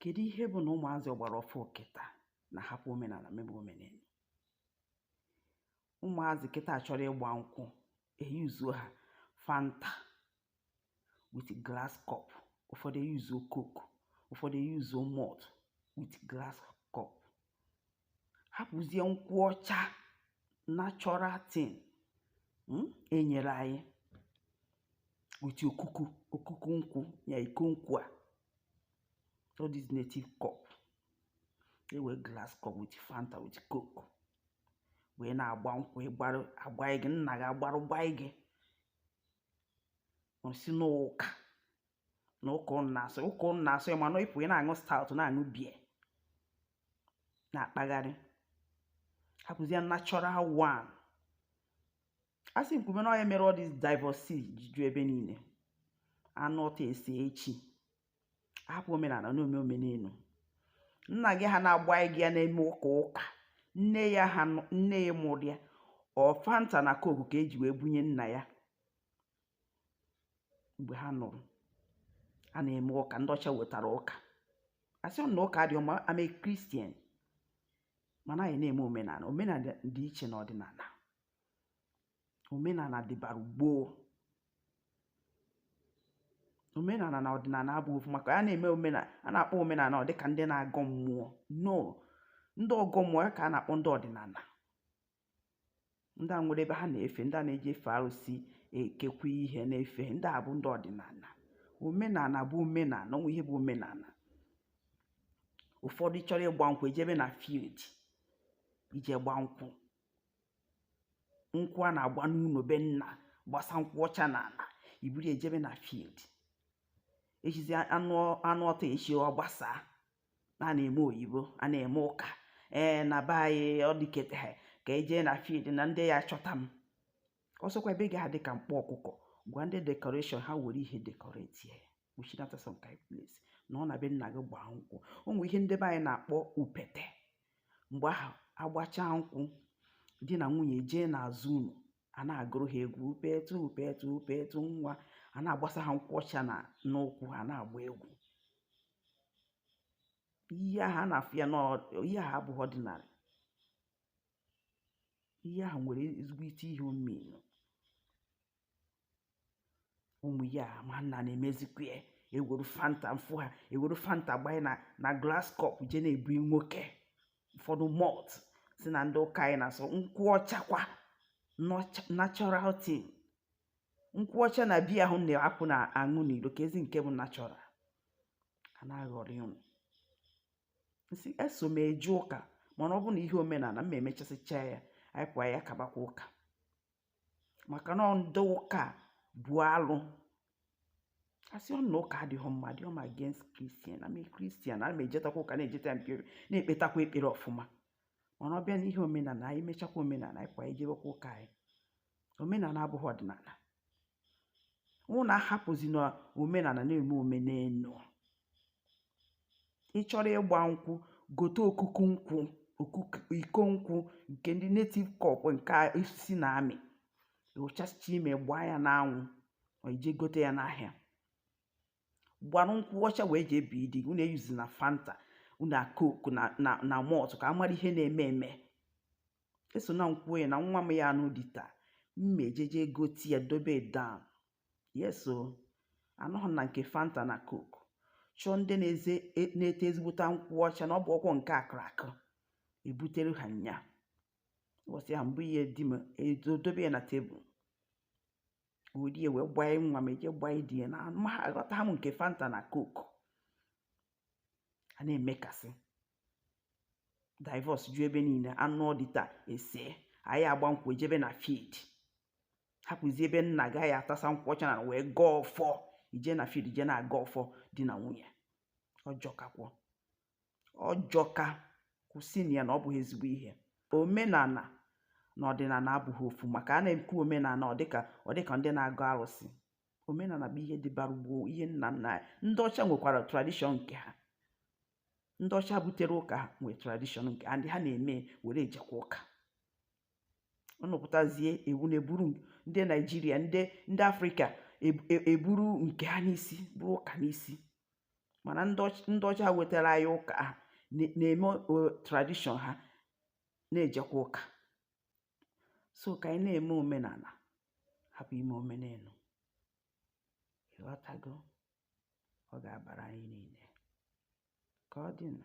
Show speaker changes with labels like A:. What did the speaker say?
A: kedu ihe bụ na ụmụazị ọgbara ọfụ kịta na-ahapụ omenala mebe omenelu ụmụazị kịta chọrọ ịgba nkwụ eyuzuo ha fanta with glass cup ụfọdụ eyuzuo coke ụfọdụ eyuzuo malt with glass cup hapụzie nkwụ ọcha natural thing enyere anyị with okuku okuku nkwụ ya iko nkwụ a all this native cup ewe glass cup with fanta with coke wee na-agba nkwụ ịgbara agba gị nna gị agbarụ gba gị ọ sị n'ụka na ụka ụnụ na-asọ ụka ụnụ na-asọ mana ị pụọ ị na-aṅụ stout na-aṅụ beer na-akpagharị hapụzie natural one a sị m kwue na ọ nya mere all this divorce ji ju ebe niile anụọ taa esee echi hapụ omenala na-eme omenelu nna gị ha na-agba gị ya na-eme ụka ụka nne ya ha nne ya mụrụ ya ọ fanta na coke ka eji wee bunye nna ya mgbe ha nụrụ a na-eme ụka ndị ọcha wetara ụka asịghị m na ụka adịghị mma i'm a christian mana anyị na-eme omenala omenala dị iche na ọdịnala omenala dịbara gboo omenala na ọdịnala abụghị ofu maka a na-eme omenala a na-akpọ omenala ọ dịka ndị na-agọ mmụọ no ndị ọgọ mmụọ ya ka a na-akpọ ndị ọdịnala ndị a nwere ebe ha na-efe ndị a na-eji efe arụsị ekekwa ihe na-efe ndị a bụ ndị ọdịnala omenala bụ omenala o nwere ihe bụ omenala ụfọdụ chọrọ ịgba nkwụ ejebe na field ije gba nkwụ nkwụ a na-agba n'ụlọ be nna gbasa nkwụ ọcha na ala iburu ejebe na field ejizi anụọ taa echi ọ gbasaa na a na-eme oyibo a na-eme ụka ee na be anyị ọ dịkete ha ka ejee na field na ndị ya chọta m ọsọkwa be gị adị ka mkpọ ọkụkọ gwa ndị decoration ha were ihe decorate ya kpuchinata some kind place nọ na be nna gị gbaa nkwụ o nwere ihe ndị be anyị na-akpọ upete mgbe ahụ agbacha nkwụ di na nwunye jee n'azụ ụnọ a na-agụrụ ha egwu upetu upetu upetu nwa a na-agbasa ha nkwụ ọcha na n'ụkwụ ha na-agba egwu ihe ahụ a na-afụ ya na ihe ahụ abụghị ọdịnala ihe ahụ nwere ezigbote ihe omenu ụmụ ya mana na-emezikwa ya ewere fanta m fụ ha ewere fanta gbanye na na glass cup je na-ebunye nwoke ụfọdụ malt sị na ndị ụka anyị na-asọ nkwụ ọchakwa natural thing nkwụ ọcha na biya ahụ na-apụ na-aṅụ n'iro kezi nke bụ nachọra a na-aghọri ụnụ nsị eso m eje ụka mana ọ bụ na ihe omenala m emechasịcha ya anyị pụọ ya kabakwa ụka maka na ndị ụka bụ alụ asịghị m na ụka adịghị mma adịghị m against kristian i'm a kristian ana m ejetakwa ụka na-ejeta ya mpere na-ekpetakwa ekpere ọfụma mana ọ bịa n'ihe omenala anyị mechakwa omenala anyị pụọ anyị jebekwa ụka anyị omenala abụghị ọdịnala ụnụ ahapụzina omenala na-eme omenelu ị chọrọ ịgba nkwụ gote okuku nkwụ okuku iko nkwụ nke ndị netiv kọp nke osisi na-amị ewuchasịcha ime gbaa ya n'anwụ or i je gote ya n'ahịa gbarụ nkwụ ọcha wee jee bie di gị unu eyuzina fanta na coke na malt ka a mara ihe na-eme eme eso na nkwụ ya na nwa m ya-anụ di taa m ma-ejeje gote ya dobe down yes o anọghị na nke fanta na coke chọọ ndị na-eze e- na-ete ezigbote nkwụ ọcha na ọ bụ ọkwọ nke a kụrụ akụ ebutere ha nya ụbọchị ahụ mụ ya di m edobe ya na tebụl orie wee gbanye nwa m eje gbanye di ya na aghọtaha m nke fanta na coke a na-eme ka a sị divọs ju ebe niile a nụọ di taa esee a ya-agba nkwụ ejebe na field hapụzi ebe nna gị ya-atasa nkwụ ọcha n'ana wee gọọ ọfọ i je na field i je na-agọ ọfọ di na nwunye ọ jọkakwọ ọ jọka kwụsịnụ ya na ọ bụghị ezigbo ihe omenala na ọdịnala abụghị ofu maka a na-ekwu omenala ọ dịka ọ dịka ndị na-agọ arụsị omenala bụ ihe dịbara gboo ihe nna nna anyị ndị ọcha nwekwara tradishọn nke ha ndị ọcha butere ụka ha nwee tradishọn nke ha ndị ha na-eme were ejekwa ụka unu pụtazie ewu na-eburu ndị naijiria ndị ndị afrịka eburu nke ha n'isi buru ụka n'isi mana ndị ọcha wetara anyị ụka a ha na-eme tradishọn ha na-ejekwa ụka so ka anyị na-eme omenala hapụ ime omenelu ị ghọtago ọ ga-abara anyị niile ka ọ dịnụ